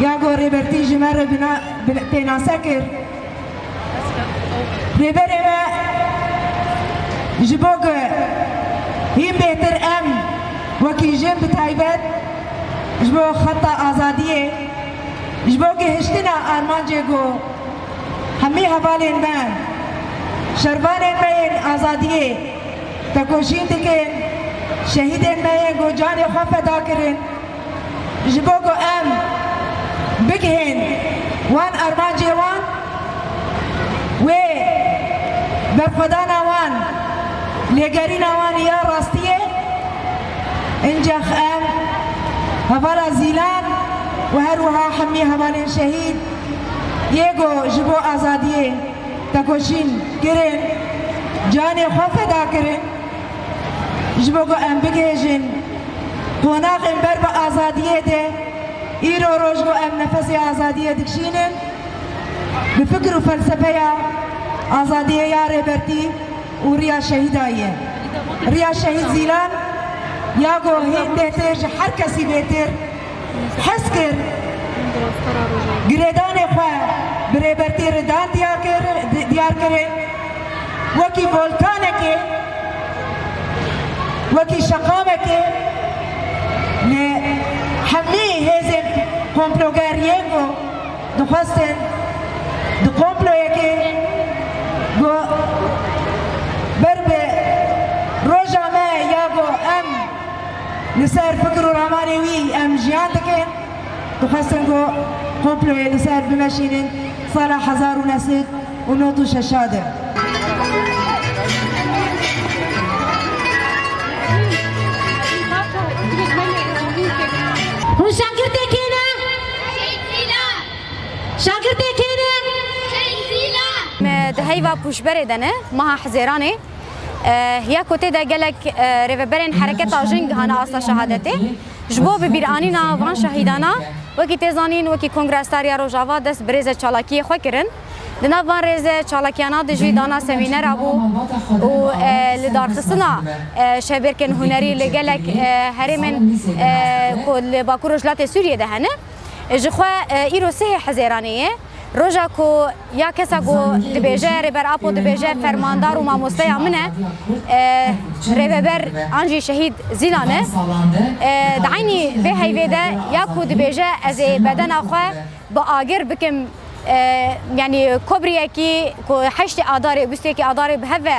Ya ku Rêbertî ji me re pênase kir, Rêberê me ji bo ku hîn bêhtir em wekî jin bi taybet ji bo xeta azadiyê, ji bo gihiştina armancê ku hemî hevalên me, şervanên me yên azadiyê tekoşîn dikin, şehîdên me yên ku canê xwe feda kirin, Ji bo ku em bigihên wan armancê wan wê berxwedana wan lêgerîna wan ya rastî ye. Încax em hevala zîlan û her wiha hemî hevalên şehîd yê ku ji bo azadiyê tekoşîn kirin, canê xwe feda kirin, Ji bo ku em bigihêjin qonaxên ber bi azadiyê de, îro roj ku em nefesê azadiyê dikişînin, bi fikir û felsefeya azadiyê ya Rêbertî û riya şehîda ye. Riya şehîd Zîlan ya ku hêndê tê ji her kesî bêtir, Hez kir girêdanê xwe bi Rêbertî Ridan diyar kirê wekî volkanekê, wekî şeqamekê lê hemî hêzên komploger yên ku dixwestin di komployekê ku ber bi roja me ya ku em Li ser fikir û ramanê wî em jiyan dikin. Dixwestin ku komployê li ser bimeşînin sala hezar û neh sed û nod û şeşa de. Di heyva pûşberê de ne, meha hizêranê. ya ku tê de gelek rêveberên hereketa jin gihana asta şehadetê. Ji bo bibîranîna van şehîdana wekî tê zanîn wekî Kongra Star ya Rojava dest bi rêzê çalakiyê xwe kirin. Di nav van rêzê çalakiyana de jî dana semînera bû û li darxistina şevbêrkên hunerî li gelek herêmên ku li Bakur Rojhilatê Sûriyê de hene. Jixwe îro sihê Hizêranê ye. Roja ku ya kesa ku dibêje Rêber Apo dibêje fermandar û mamosteya min e e, Rêveber an jî şehîd Zîlan e. E, Di eynî vê heyvê de ya ku dibêje ez ê bedena xwe bi agir bikim e, yanî kobriyekî ku heştê adarê û bîstêkî adarê bi hev ve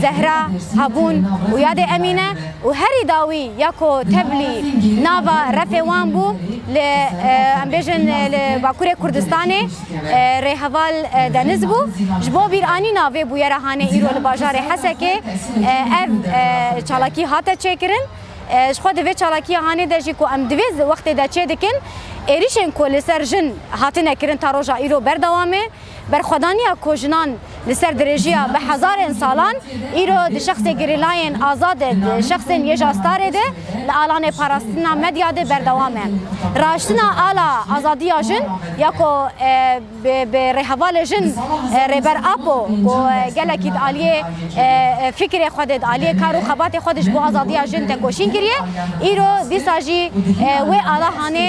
Zehra, Habûn û ya dê Emîne û herî dawî ya ku teblî nava refê wan bû li em bêjin li Bakurê Kurdistanê rê heval Deniz bû. Ji bo bîranîna vê bûyera hane îro li bajarê Hesekê ev çalakî hate çêkirin. Ji xwe di vê çalakiya hanê de jî ku em di vê wextê de çêdikin êrîşên ku li ser jin hatine kirin ta roja îro berdewam e. Berxwedaniya ku jinan li ser dirêjiya bi hezarên salan îro di şexsê gerîlayên azad e, di şexsên yê jastarê de, li alanê parastina medya de berdewam e. Raiştina ala azadiya jin ya ku bi rêhevalê jin Rêber Apo ku gelekî di aliyê Fikirê xwe did, aliyê kar û xebatê xwe did ji bo azadiya jin tekoşîn kiriye. Îro dîsa jî wê ala hanê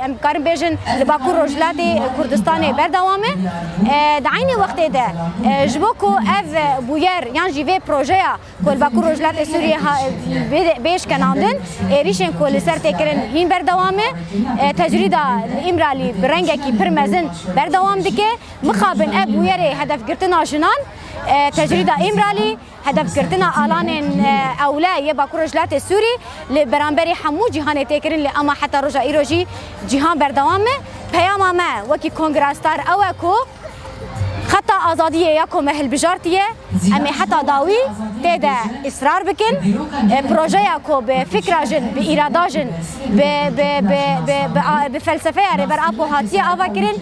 em dikarin bêjin li Bakur Rojhilatê Kurdistanê berdewam e. Di eynî wextê de ji bo ku ev bûyer yan jî vê projeya ku li Bakur Rojhilatê Sûriyê bê bêşkenandin êrîşên ku li ser tê kirin hîn berdewam e. Tecrîda li Îmralî bi rengekî pir mezin berdewam dike. Mixabin ev bûyerê hedefgirtina jinan. Tecrîda Îmralî hedefgirtina alanên ewle yê Bakur Rojhilatê Sûrî li beramberî hemû cîhanê tê kirin lê ema heta roja îro jî cîhan berdewam e. Peyama me wekî Kongrestar ew e ku xeta azadiyê ya ku me hilbijartiye em ê heta dawî tê de îsrar bikin. Projeya ku bi fikra jin, bi îrada jin, bi felsefeya Rêber Apo hatiye avakirin